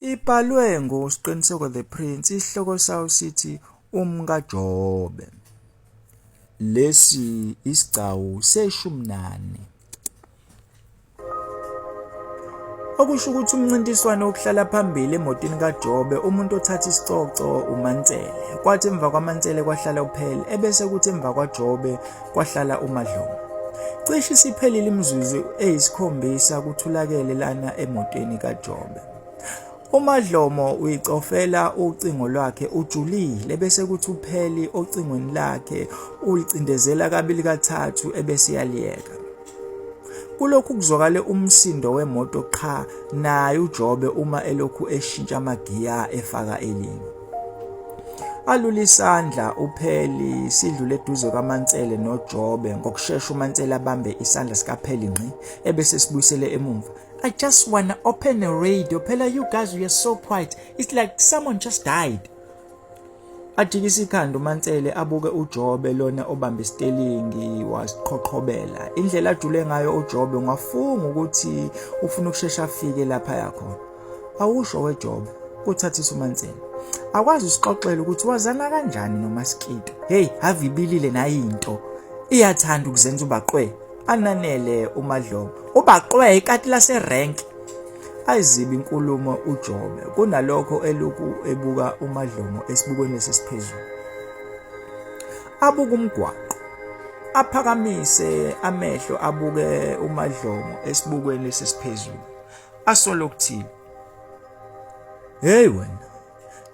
Ibhalwe nguSqiniseko the Prince, isihloko sawo sithi uMkaJobe. Lesi isigcawu seshumi nane. Okusho ukuthi umncintiswano wokuhlala phambili emotini kaJobe umuntu othatha isicoco uMansele. Kwathi emva kwaMansele kwahlala uPhele ebese kuthi emva kwaJobe kwahlala uMadlomo. Cishe isiphelile imizuzu eyisikhombisa kuthulakele lana emotweni kaJobe. UMadlomo uyicofela ucingo lwakhe ujulile bese kuthi upheli ocingweni lakhe ulicindezela kabili kathathu ebese yaliyeka. Kulokhu kuzwakale umsindo wemoto qha naye uJobe uma elokhu eshintsha amagiya efaka elinye. Alula isandla uPheli sidlule eduze kaMansele noJobe ngokushesha uMansele abambe isandla sikaPheli ngqi ebese sibuyisele emumva. I just wanna open a radio. Phela you guys we are so quiet. It's like someone just died. Ajikise ikhanda uMansele abuke uJobe lona obamba isitelingi wasiqhoqhobela. Indlela ajule ngayo uJobe ungafunga ukuthi ufuna ukushesha afike lapha yakhona. Awusho weJobe kuthathisa uMansele. Akwazi usixoxela ukuthi wazana kanjani noMaskito. Hey, havibilile nayo into. Iyathanda ukuzenza ubaqwe. ananele umadlomo ubaqwe ikati laserank ayizibi inkulumo ujobe kunalokho eluku ebuka umadlomo esibukweni lesisiphezulu abuka umgwaqo aphakamise amehlo abuke umadlomo esibukweni lesisiphezulu asolo ukuthini hey wena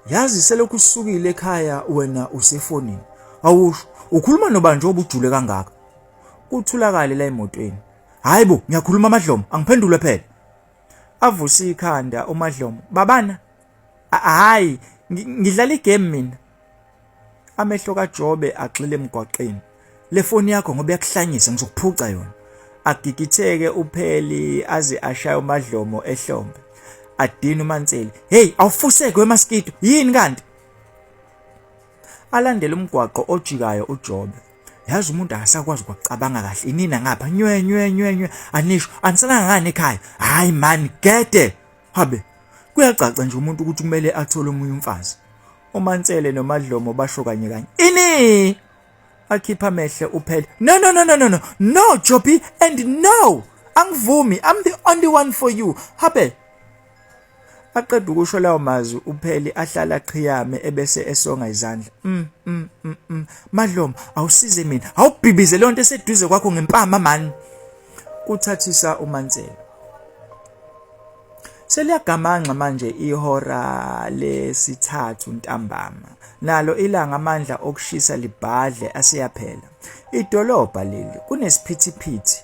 yazi selokhu usukile ekhaya wena usefonini awusho ukhuluma nobani njengoba ujule kangaka Kuthulakale la emotweni. Hayi bo, ngiyakhuluma amadlomo, angiphendule phela. Avuse ikhanda umadlomo. Babana, hayi, ngidlala igame mina. Amehlo kaJobe agxile emgwaqeni. Le foni yakho ngoba yakuhlanyisa ngizokuphuca yona. Agigitheke upheli aze ashaye umadlomo ehlombe. Adina uManseli. Hey, awufuseke wemaskito. Yini kanti? alandele umgwaqo ojikayo uJobe yazi umuntu akasakwazi ukucabanga kahle inina ngapha nywe nywe nywe nywe anisho aniselanga ngani ekhaya hayi man gede habe kuyacaca nje umuntu ukuthi kumele athole omunye umfazi umansele nomadlomo basho kanye kanye ini akhipha amehlo uphele no no no no no no no jobi and no angivumi i'm the only one for you habe Aqeda ukusho lawo mazwi upheli ahlala qhiyame ebese esonga izandla. Mm, mm, mm, mm. Madlomo awusize mina. Awubhibize leyo nto eseduze kwakho ngempama man. Kuthathisa uMansela. Seliyagamangxa manje ihora lesithathu ntambama. Nalo ilanga amandla okushisa libhadle aseyaphela. Idolobha leli kunesiphithiphithi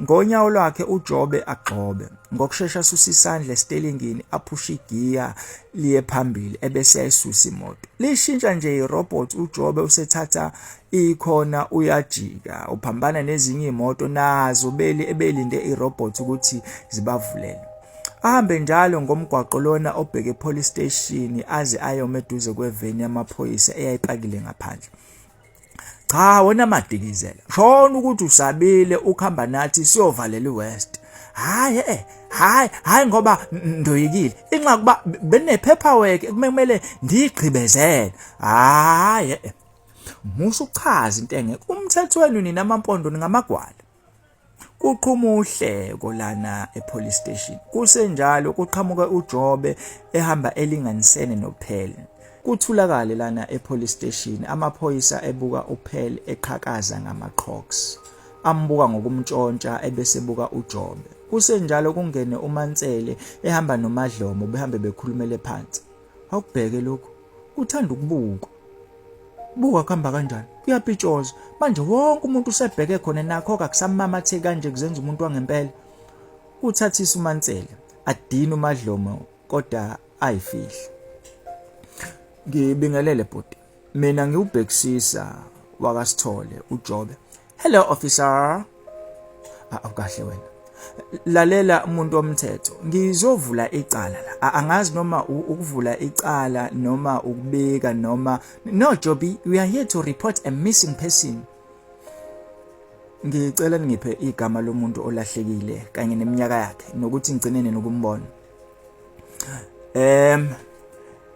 Ngonyawo lwakhe uJobe agxobe ngokushesha asusa isandla esitelingini aphushe igiya liye phambili ebese ayisusa imoto lishintsha nje irobot uJobe usethatha ikhona uyajika uphambana nezinye imoto nazo beli ebelinde irobot ukuthi zibavulele ahambe njalo ngomgwaqo lona obheke police station aze ayome eduze kweveni yamaphoyisa eyayipakile ngaphandle cha wena madikizela shona ukuthi usabile ukhamba nathi siyovalela iwest hayi eh hayi hayi ngoba ndoyikile inxa kuba benepaperwork ekumele ndigqibezele hayi eh, eh. musa uchaza into engeke umthethweni nina amampondo ningamagwala Kuqhuma uhleko lana epolice station. Kusenjalo kuqhamuke uJobe ehamba elinganisene noPhele. Kuthulakale lana epolice station amaphoyisa ebuka uPhele eqhakaza ngamaqhoks. Ambuka ngokumtshontsha ebesebuka uJobe. Kusenjalo kungene uMansele ehamba noMadlomo behambe bekhulumele phansi. awubheke lokhu uthanda ukubukwa buka kuhamba kanjani kuyapitshoza manje wonke umuntu usebheke khona nakho kakusamamatheki kanje kuzenza umuntu wangempela uthathisa umansela adina umadlomo kodwa ayifihle ngibingelele bhuti mina ngiwubhekisisa wakasithole ujobe Hello officer. Ah, awukahle wena. Lalela umuntu omthetho. Ngizovula icala la. Ah, angazi noma ukuvula icala noma ukubika noma No Jobi, we are here to report a missing person. Ngicela ningiphe igama lomuntu olahlekile kanye neminyaka yakhe nokuthi ngigcine nini ukumbona. Em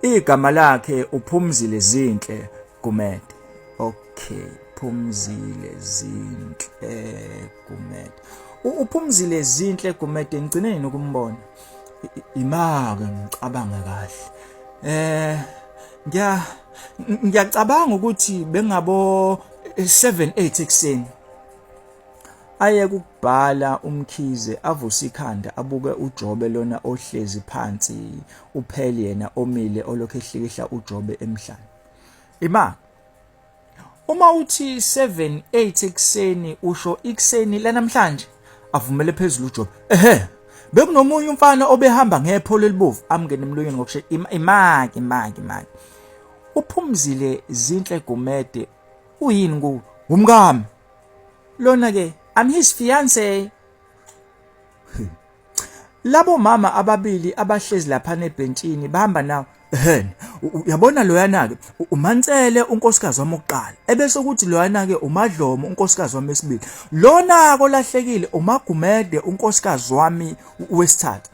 igama lakhe uphumzile zinhle Gumede. Okay, Phumzile Zinhle Gumede. Uphumzile Zinhle Gumede ngicine yini ukumbona? Imake ngicabanga kahle. Eh ngiya ngiyacabanga ukuthi bengabo 7 8 ekseni Aye kukubhala uMkhize avuse ikhanda abuke uJobe lona ohlezi phansi upheli yena omile olokhu ehlikihla uJobe emhlane. Ima Uma uthi 7 8 ekseni usho ikuseni lanamhlanje avumele phezulu uJobe. Ehhe bekunomunye umfana obehamba ngepholo elibovu amngene emlonyeni ngokushe imaki imaki imaki uphumzile zinhle gumede uyini ku umkami lona ke I'm his fiance labo mama ababili abahlezi lapha nebhentshini bahamba nawo hen uyabona loyana ke umansele unkosikazi wami oqala ebese ukuthi loyana ke umadlomo unkosikazi wami esibili lona kolahlekile umagumede unkosikazi wami wesithathu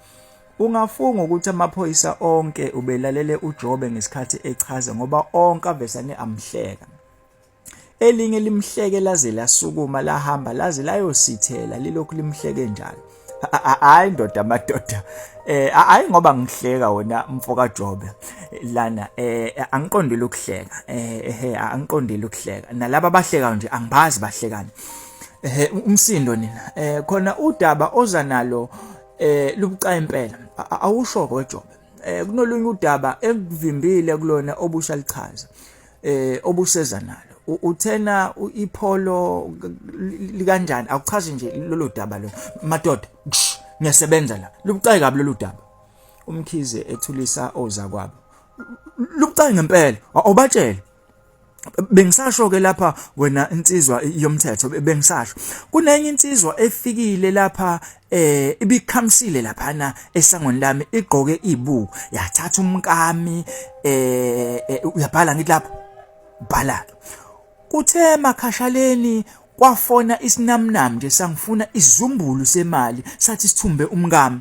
ungafunga ukuthi amaphoyisa onke ubelalele uJobe ngesikhathi echaza ngoba onke avesane amhleka elinye limhleke laze lasukuma lahamba laze layosithela lilokhu limhleke njalo hayi ndoda amadoda eh hayi ngoba ngihleka wena mfoka Jobe lana eh angiqondile ukuhleka eh eh angiqondile ukuhleka nalabo abahleka nje angibazi bahlekani eh umsindo nina eh khona udaba oza nalo eh lubucayi impela awusho kodwa eh kunolunye udaba ekuvimbile kulona obusha lichaza eh obuseza nalo uthena ipholo likanjani akuchazi nje lolu daba lo madoda ngiyasebenza la lubucayi kabi lolu daba umkhize ethulisa oza kwabo lubucayi ngempela awubatshele bengisasho ke lapha wena insizwa yomthetho bengisasho kunenye insizwa efikile lapha eh ibikhamisile laphana esangweni lami igqoke ibu yathatha umkami eh, eh uyabhala ngithi lapho bhala kuthe makhashaleni kwafona isinamnam nje sangifuna isizumbulu semali sathi sithumbe umkami